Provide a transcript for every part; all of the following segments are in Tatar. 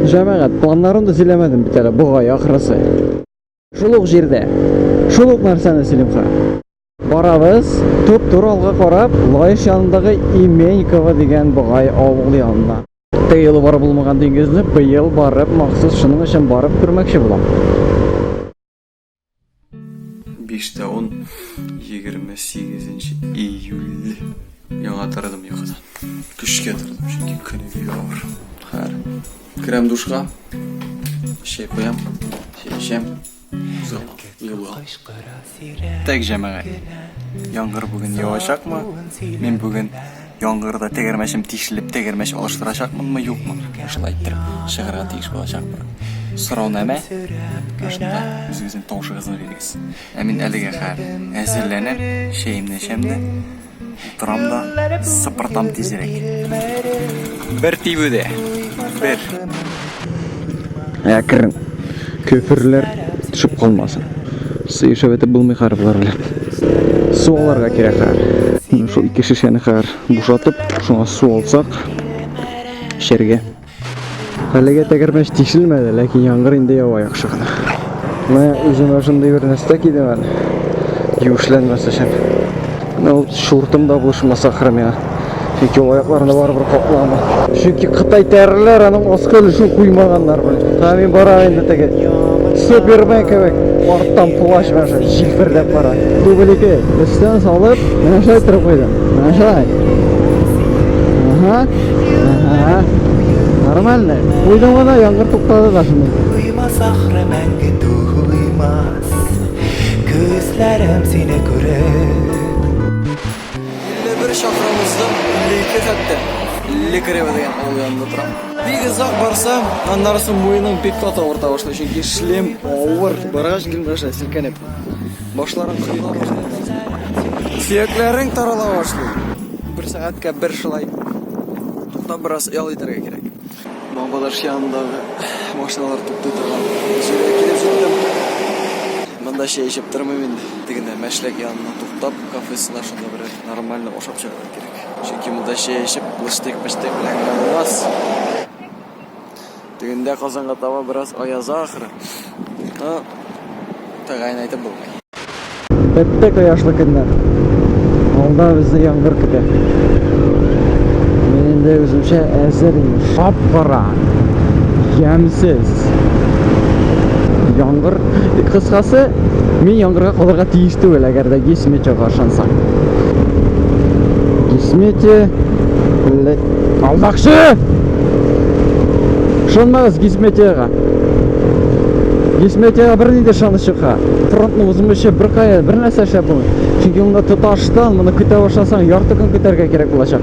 Җәмәгать, планнарын да сөйләмәдем бит әле, бугай ахрысы. Шул ук җирдә. Шул ук нәрсәне сөйлимха. Барабыз, туп-тур алга карап, Лаеш янындагы Именьково дигән бугай авыл янына. Теге юлы барып булмаган диңгезне быел барып, махсус шуның өчен барып күрмәкче булам. 5 тә 10 28 июль яңа тордым йокыдан көшкә тордым чөнки көн бик авыр хәр керәм душка чәй куям чәй эчәм юлга так җәмәгать яңгыр бүген явачакмы мин бүген Яңгырда тәгәрмәчем тишелеп, тәгәрмәч алыштырачакмынмы, юкмы? Менә шулай итеп чыгарга тиеш булачакмын. Сораунамә шунда үзегезнең тавышыгызны бирегез. Ә мин әлегә хәл әзерләнәм, чәемне эчәм дә, утырам да, сыпыртам тизрәк. Бер тибүдә, бер. Әкрен. Көферләр төшеп калмасын. Сыешып әтеп булмый хәр болар белән. Су аларга кирәк хәр. Шул ике шешәне хәр бушатып, шуңа су алсак, эчәргә. Әлегә тәгәрмәч тишелмәде, ләкин яңгыр инде ява яхшы гына. Менә үземә шундый бер нәрсә кидем әле. Юешләнмәс өчен. Менә ул шуртым да булышмаса ахры миңа. Чөнки ул аякларында барыбер каплама. Чөнки Кытай тәреләр аның аскы өлешен куймаганнар белән. Та мин барам инде теге. Супермен кебек. Арттан плащ белән шулай җилперләп бара. Дубль ике. Өстән салып, менә шулай торып куйдым. Менә шулай. Ага. Ага. Нормально. Куйдым гына, яңгыр туктады да шунда. Туймас ахры мәңге туймас Күзләрем сине күреп. Илле бер чакрым уздым, илле ике хәтта. Илле кырево дигән авыл янында торам. Бик озак барсам, аннары соң муеның бик каты авырта башлый, чөнки шлем авыр. Баргач Гөлмирәшә селкенеп, башларын кырыла башлый. Сөякләрең тарала башлый. Бер сәгатькә бер шулай туктап бераз ял итәргә кирәк. Бабаларчы янындагы машиналар туктый торган җиргә килеп җиттем. Монда чәй эчеп тормыйм инде. Тегенә мәшләк янына туктап, кафесына шунда берәр нормально ашап чыгарга кирәк. Чөнки монда чәй эчеп, лыштык-пыштык белән генә булмас. Тегендә Казанга таба бераз аяза ахры. Монда тәгаен әйтеп булмый. Тәттә кояшлы көннәр. Алда безне яңгыр көтә. Мин инде үземчә әзер инде. Шап-кара. Ямсез. Яңгыр. Кыскасы, мин яңгырга калырга тиеш түгел, әгәр дә Гесметега ышансаң. Гесмете... Алмакчы! Ышанмагыз Гесметега! Дисметиягә бер нинди ышаныч чыкка. Фронтны узмыйча беркая бер нәрсә эшләп булмый. Чөнки монда тоташтан моны көтә башласаң, ярты көн көтәргә кирәк булачак.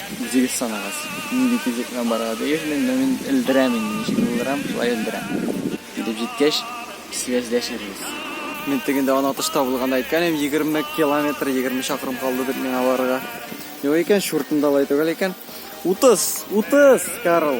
Үзегез санагыз, нинди физикага барырга тиешмен, менә мин өлдерәм инде, ничек өлдерәм, шулай өлдерәм. Килеп җиткәч, сөйләшербез. Мин теге инде аны отышта булганда әйткән идем, егерме километр, егерме чакрым калды дип миңа барырга. Юк икән, чуртым да алай түгел икән. Утыз! Утыз, Карл!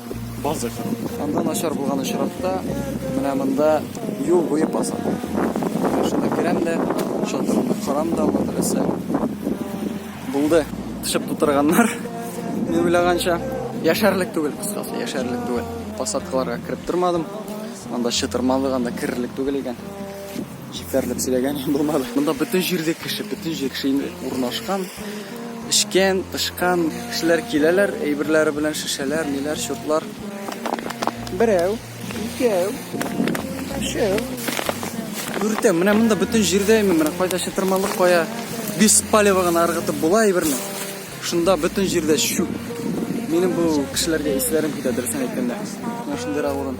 Базык. Анда начар булган очракта, менә монда юл буе базык. Шунда керәм дә, чатырымны карам да, анда теләсә. Булды. Тышып тутырганнар. Мин уйлаганча, яшәрлек түгел, кыскасы, яшәрлек түгел. Посадкаларга кереп тормадым. Анда чытырмалык, анда керерлек түгел икән. Җитәрлек сөйләгән булмады. Монда бөтен җирдә кеше, бөтен җир кеше инде урнашкан, эчкән, тышкан. Кешеләр киләләр, әйберләре белән шешәләр, ниләр, чуртлар. Берәү, икәү, өчәү. Дүртәү. Менә монда бөтен җирдә именно менә кайда чытырмалык, кая без палево гына ыргытып була әйберне. Шунда бөтен җирдә чүп. Минем бу кешеләргә исләрем китә, дөресен әйткәндә. Менә шундыйрак урын.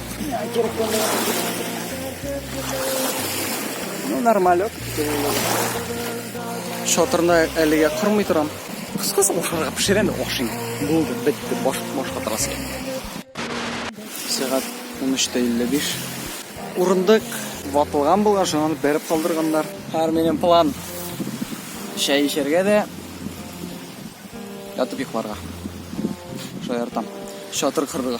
Ну, нормалек. Шатырны әлегә кормый торам. Кыскасы ашарга пешерәм дә ашыйм. Булды, бетте, баш башка торасы килми. Сәгать 13:55. Урындык ватылган булган, шуны бәреп калдырганнар. Һәр минем план чәй эчәргә дә ятып йокларга шаяртам шатыр кырдыга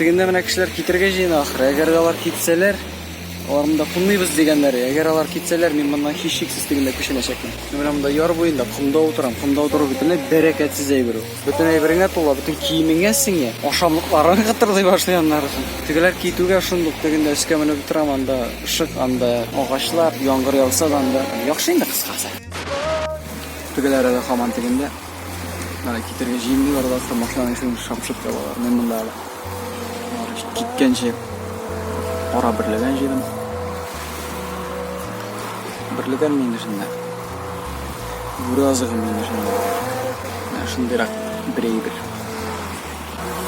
Тегендә менә кешеләр китергә җыена ахры. Әгәр алар китсәләр, аларны да кунмыйбыз дигәннәр. Әгәр алар китсәләр, мин моннан һичшиксез тегендә күченәчәкмен. Менә монда яр буенда комда утырам. Комда утыру бит бәрәкәтсез әйбер ул. Бөтен әйбереңә тула, бөтен киемеңә сеңә. Ашамлыкларың кытырдый башлый аннары. Тегеләр китүгә шундук тегендә өскә менеп утырам, анда ышык, анда агачлар, яңгыр яуса да анда. Яхшы инде кыскасы. Тегеләр әле хаман тегендә. Китергә җыенмыйлар да, машинаның ишеген шапшып ябалар. Мин монда әле. Киткәнче ара берләгән җирем. Берләгән мин эшендә. Бүре азыгы мин эшендә. Менә шундыйрак бер әйбер.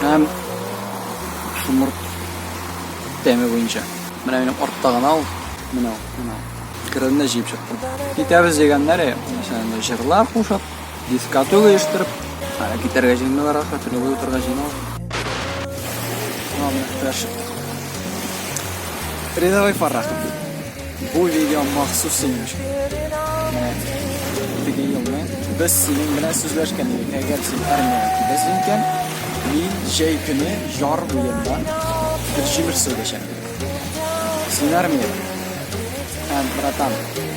Һәм шумыр тәме буенча. Менә минем артта гына ул. Менә ул, менә ул. Керенне җыеп чыктым. Китәбез дигәннәре, мәсәлән, җырлар кушып, Дискоту оештырып, ара китәргә җыйналар, ахры тренер утырга җыйнал. Мама, таш. Рядовой Фаррах. Бу видео махсус синең өчен. Теге елны без синең белән сүзләшкән идек. Әгәр син армиягә киләсең икән, мин җәй көне яр буенда бер җимеш сөйләшәм. Син армия. Һәм, братан,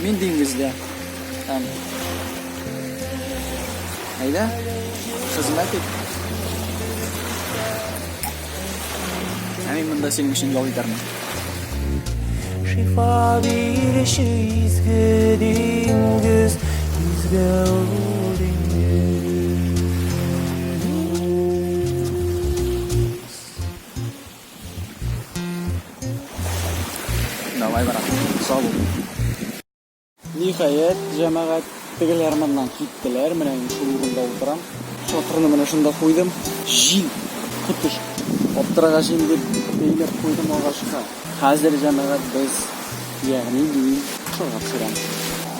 Мин диңгездә. Һәм Әйдә, хезмәт ит. Ә мин монда синең өчен ял итәрмен. Шифа бирүче изге диңгез, изге Давай, брат. Сау бул. Ниһаять, җәмәгать, тегеләр моннан киттеләр. Менә инде шул урында утырам. Чатырны менә шунда куйдым. Җил котыш. Аптырагач инде бәйләп куйдым агачка. Хәзер җәмәгать без ягъни мин шуга төшерәм.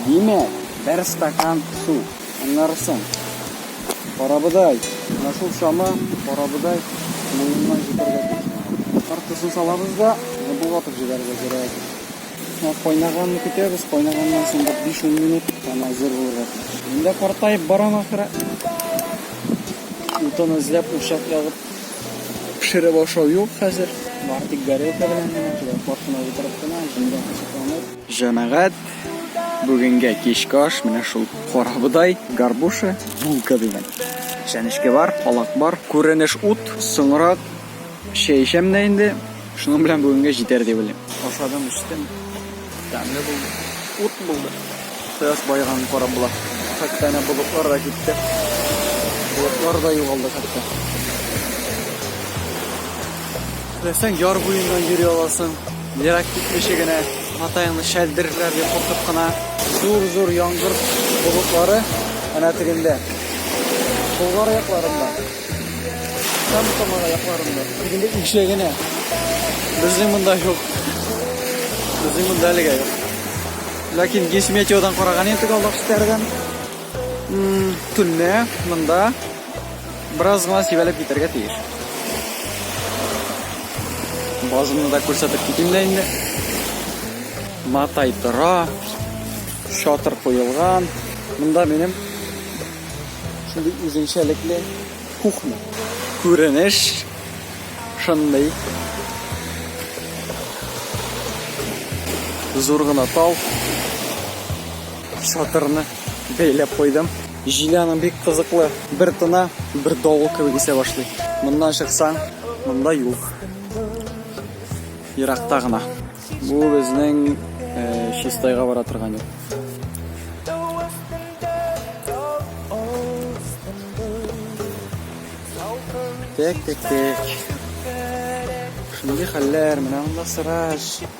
Димәк, бер стакан су. Аннары соң. Карабыдай. Менә шул чама карабыдай муеннан җитәргә тиеш. Картысын салабыз да, болгатып җибәрергә кирәк. Кайнаганны көтәбез, кайнаганнан соң 5-10 минут ана әзер булырга тиеш. Инде картаеп барам ахыры. Утын эзләп, учак ягып пешереп ашау юк хәзер. Бар тик горелка белән генә, картына утырып кына, җимгә кысып Җәмәгать, бүгенгә кичке аш менә шул карабодай, горбуша, булка дигән. Чәнечке бар, калак бар, күренеш ут, соңрак чәй эчәм дә инде. Шуның белән бүгенгә җитәр дип уйлыйм. Ашадым, эчтем. Тәмле булды. Ут булды. Кояш байыганын карап була. Хәтта әнә болытлар да китте. Болытлар да югалды хәтта. Теләсәң яр буеннан йөри аласың. Ерак китмичә генә матаеңны шәлдерерләр дип куркып кына. Зур-зур яңгыр болытлары әнә тегендә. Болгар аякларында. Һәм Самар аякларында. Тегендә икшә генә. Безнең монда юк. Безнең монда әлегә юк. Ләкин гесметиодан караган идек аллак күтәргән. Төнлә монда Бераз гына сибәлеп китәргә тиеш. Базымны да күрсәтеп китим дә инде. Матай тора. Шатыр куелган. Монда минем шундый үзенчәлекле кухня. Күренеш шундый. Зур гына тал. Шатырны бәйләп куйдым. Җиле аның бик кызыклы. Бер тына, бер давыл кебек исә башлый. Моннан чыксаң, монда юк. Еракта гына. Бу безнең э, Чистайга бара торган юл. Тек-тек-тек. Шундый хәлләр, менә монда сыраж.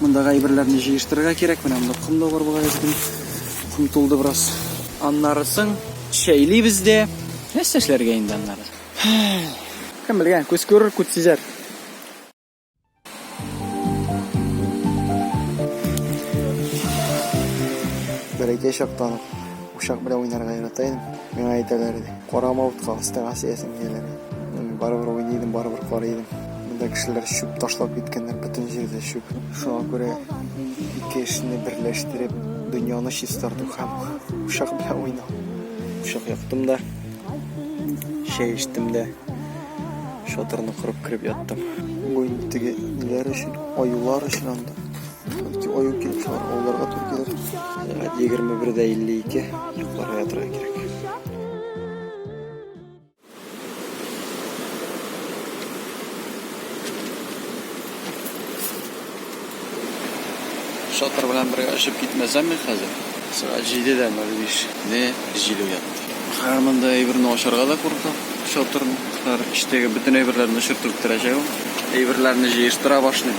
Мондагы әйберләрне җыештырырга кирәк. Менә монда ком да бар бугай эздем. Ком тулды бераз. Аннарысын чәйлибез дә. Нәрсә эшләргә инде аннары? Кем белгән, күз күрер, күз сизәр. Бәләкәй чактан Учак белән уйнарга ярата идем. Миңа әйтәләр иде, карама утка, астыңа сеясең диярләр иде. Барыбер уйный идем, барыбер карый идем. Монда кешеләр чүп ташлап киткәннәр, бөтен җирдә чүп. Шуңа күрә ике эшне берләштереп, дөньяны чистарту һәм учак белән уйнау. Учак яктым да, чәй эчтем дә, шатырны корып кереп яттым. Бу инде теге ниләр өчен, аюлар өчен анда. Ике ой үткән кеше бар, олыларга тур килер. Сәгать 21-дә 52 йокларга ятырга кирәк. Шатыр белән бергә очып китмәсәм мин хәзер. Сәгать 7-дә 05 не җил уятты. Хәзер монда әйберне ачарга да куркам. Шатырны, хәзер эчтәге бөтен әйберләрне очыртып бетерәчәк. Әйберләрне җыештыра башлыйм.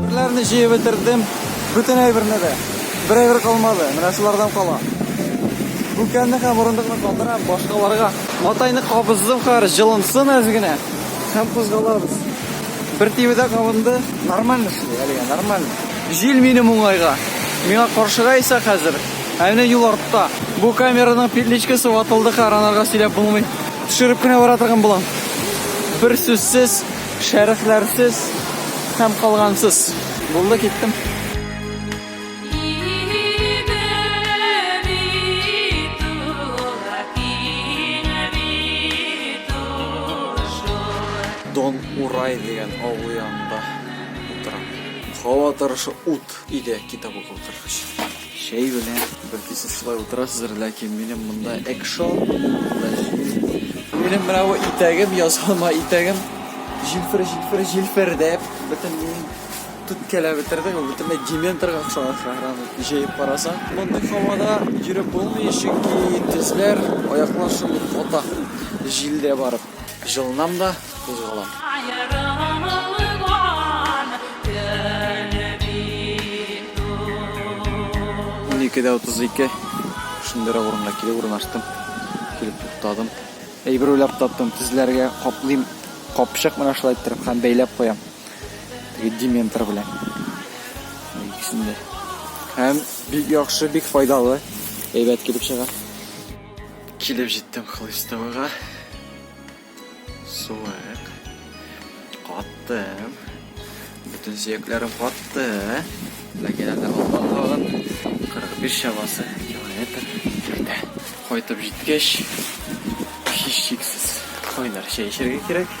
Берләрне җыеп бетердем. Бүтән әйберне дә. Бер әйбер калмады. Менә шулардан кала. Бүкәнне һәм урындыкны калдырам, башкаларга. Матайны кабыздым хәр, җылынсын әз генә. Һәм кузгалабыз. Бер тибедә кабынды. Нормально шул, әлегә нормально. Җил минем уңайга. Миңа каршыга исә хәзер Ә менә юл артта. Бу камераның петличкасы ватылды, каранарга сөйләп булмый. Төшереп кенә бара торган булам. Бер сүзсез, шәрехләрсез һәм калгансыз. Булды, киттем. Дон Урай дигән авыл янында утырам. Һава торышы ут иде китап укып торгач. Чәй белән бәлки сез шулай утырасыздыр, ләкин минем монда экшон, монда җил. Минем менә бу итәгем, язылма итәгем, җилфер, җилфер, җилфердәп, бөтенләй түткәләп бетерде, бөтенләй дементорга охшаган шәһрам, җәеп карасаң. Мондый һавада йөреп булмый, чөнки тезләр, аяклар шундук ката, җилдә барып. Җылынам да, кузгалам. Унике дә утыз ике. Шундыйрак урынга килеп урнаштым. Килеп туктадым. Әйбер уйлап таптым. Тезләргә каплыйм. Капчык менә шулай иттереп һәм бәйләп куям. Теге дементор белән. Икесен дә. Һәм бик яхшы, бик файдалы. Әйбәт килеп чыга. Килеп җиттем Хлыстовыга. Суык. Каттым. Бөтен сөякләрем катты. Ләкин әле алда тагын 45 чамасы километр йөртә. Кайтып җиткәч, һичшиксез кайнар чәй эчәргә кирәк.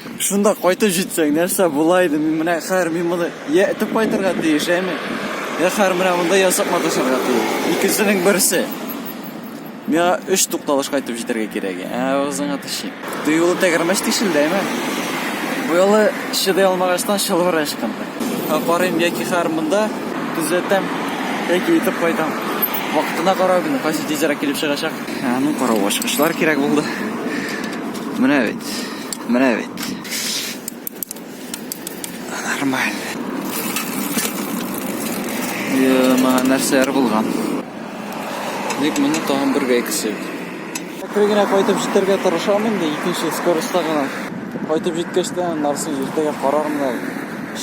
Шунда кайтып җитсәң, нәрсә була иде? Мин менә хәер мин моны я этеп кайтырга тиеш, әйме? Я хәер менә монда ясап маташырга тиеш. Икесенең берсе. Миңа өч тукталыш кайтып җитәргә кирәк. Ә авызыңа тешим. Тыюлы тәгәрмәч тишелде, әйме? Бу юлы чыдый алмагачтан чылбыры ычкынды. Ә карыйм, яки хәер монда төзәтәм, яки итеп кайтам. Вакытына карау генә, кайсы тизрәк килеп чыгачак. Ә ну карау ачкычлар кирәк булды. Менә бит. Менә бит. Нормаль. Яма нәрсәләр булган. Ник моны тагын бергә икесе. Әкрен генә кайтып җитәргә тырышам инде, икенче скоростьта гына. Кайтып җиткәч тә нарсын иртәгә карармын да,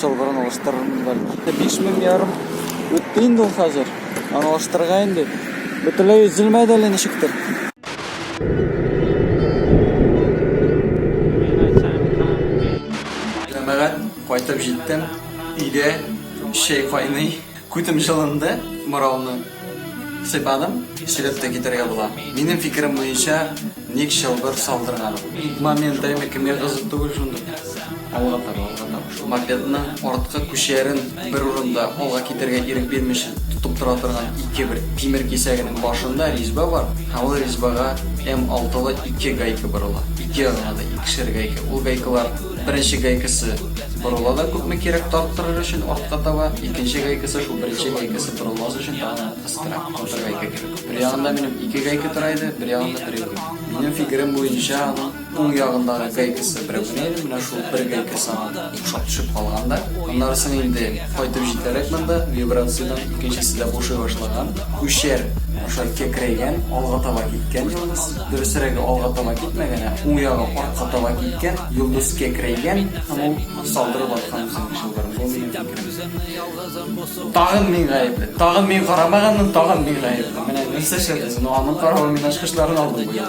шылбырын алыштырырмын бәлки. 5000 ярым үтте инде ул хәзер. Аны алыштырырга инде. Бөтенләй өзелмәде әле ничектер. Җәмәгать кайтып җиттем. Өйдә чәй кайный. Күтем җылынды. Моралны сыйпадым. Сөйләп тә китәргә була. Минем фикерем буенча, ник чылбыр салдырган? Момент әйме, кемгә кызык түгел шундый. Алга таба, алга таба. Мопедның арткы күчәрен бер урында алга китәргә ирек бирмичә тотып тора торган ике бер тимер кисәгенең башында ризьба бар һәм ул ризьбага М-алтылы ике гайка борыла. Ике ягына да икешәр гайка. Ул гайкалар беренче гайкасы борыла да күпме кирәк тарттырыр өчен артка таба, икенче гайкасы шул беренче гайкасы борылмас өчен тагын кыстыра. Бер гайка кирәк. Бер ягында минем ике гайка тора иде, бер ягында берәү генә. Минем фикерем буенча, аның Уң ягындагы гайкасы берәү генә иде, менә шул бер гайкасы аңа охшап төшеп калган да. Аннарысын инде кайтып җитәрәк монда вибрациядән икенчесе дә бушый башлаган. Күчәр аша кәкрәйгән, алга таба киткән йолдыз. Дөресрәге, алга таба китмәгән, ә уң ягы артка таба киткән. Йолдыз кәкрәйгән һәм ул салдырып аткан үзенең чылбырын. Бу минем фикерем. Тагын мин гаепле. Тагын мин карамаганмын, тагын мин гаепле. Менә нәрсә эшләдегез? Ну, аның каравы мин ачкычларын алдым быел.